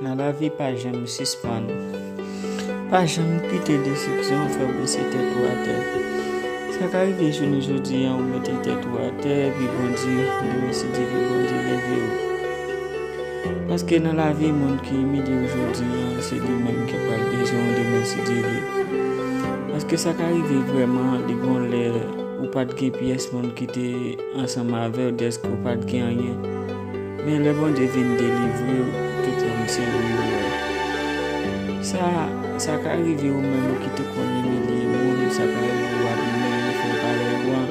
Nan lavi pa janm sispann. Pa janm kite desepsyon fè w bese tèt ou atè. Sa ka rive jounen jodi an ou mete tèt ou atè epi Bondye li resite epi Bondye leve ou. Paske nan lavi moun ki imilye w jodi a, se li menm ki pral bezwen w demen si Dye vle. Paske sa ka rive vrèman li gon lè ou pa t gen pyès moun ki te ansanm avè w dèske w pa t gen anyen. Men lè Bondye vin delivre w, tout moun se li yo wè. Sa, sa ka rive ou menm ki te konn imilye moun, sa ka rive w ap imilye frè parèy ou an.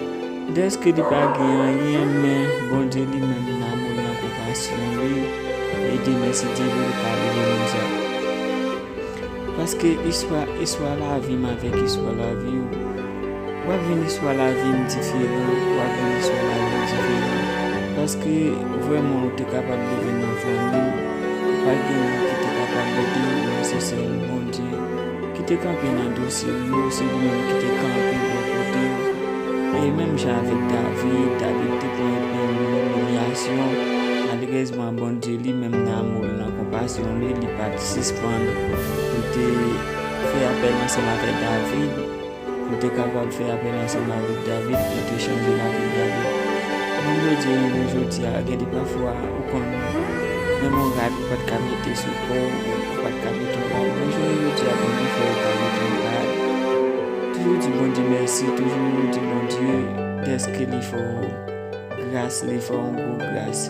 Dèske li pa gen anyen men Bondye li menm nan amou l nan konpasyon li ede mèsi Dyelo li ka rele moun sa paske istwa istwa lavi m avèk istwa lavi w w ap jwenn istwa lavi m diferan w ap jwenn istwa lavi m diferan paske vrèman ou te kapab leve nan fanmi ki pa t gen moun ki te kapab ede w men se sèl Bondye. Ki te kanpe nan dosye w yo, se ou menm ki te kanpe bò kote yo. E menm jan avèk David, David te pran epi l mouri imilyasyon. Malerèzman, Bondye li menm nan amou l, nan konpasyon li, li pa t sispann. Li te fè apèl ansanm avèk David. Nou te kapab fè apèl ansanm avèk David pou te chanje lavi David. Moun Bondye renmen jodi a gen de pafwa ou konn nan gon rad ou pat ka mete sou kò w ou pat ka mete yon rad men jounen jodi a Bondye fè ou ka mete yon rad. Toujou di Bondye mèsi toujou di Bondye dèske li fè w gras li fè w yon gwo gras.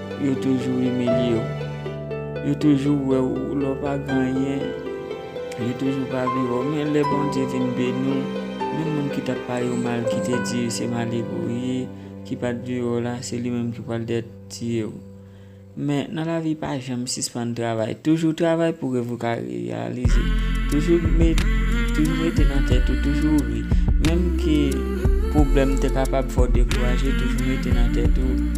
Yo toujou imilye w. Yo toujou wè w lè w pa gen anyen. Yo toujou pa vle wè w. Men lè Bondye vin beni w, menm moun ki t ap pale w mal, ki te di yo se malere w ye, ki pa t vle wè w la, se li menm ki pral dèyèt tiye w. Men, nan lavi pa janm sispann travay. Toujou travay pou rèv ou ka reyalize. Toujou mete nan tèt ou, toujou ri. Menm ke pwoblèm te kapab fè w dekouraje, toujou mete nan tèt ou.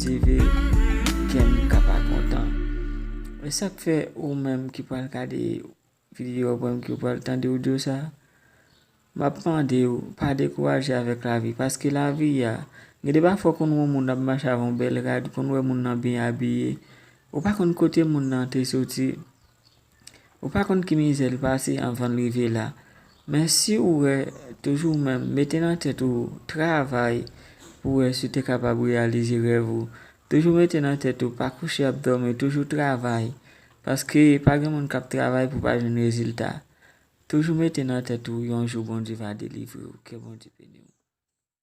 TV kè m ka pa kontan. E sak fè ou menm ki pral gade video a oubyen ki pral tande audio sa, map mande ou pa dekouraje avèk lavi paske lavi a, gen de pafwa ou konn wè yon moun ap mache avèk yon bèl rad, ou konn wè moun nan byen abiye, ou pa konn kote moun nan te soti. Ou pa konn ki mizè l pase anvan l rive la. Men si ou wè toujou ou menm mete nan tèt ou travay pou wè si w te kapab reyalize rèv ou. Toujou mete nan tèt ou pa kouche ap dòmi toujou travay paske pa gen moun k ap travay pou pa jwenn rezilta. Toujou mete nan tèt ou yon jou Bondye va delivre ou. Ke Bondye beni w.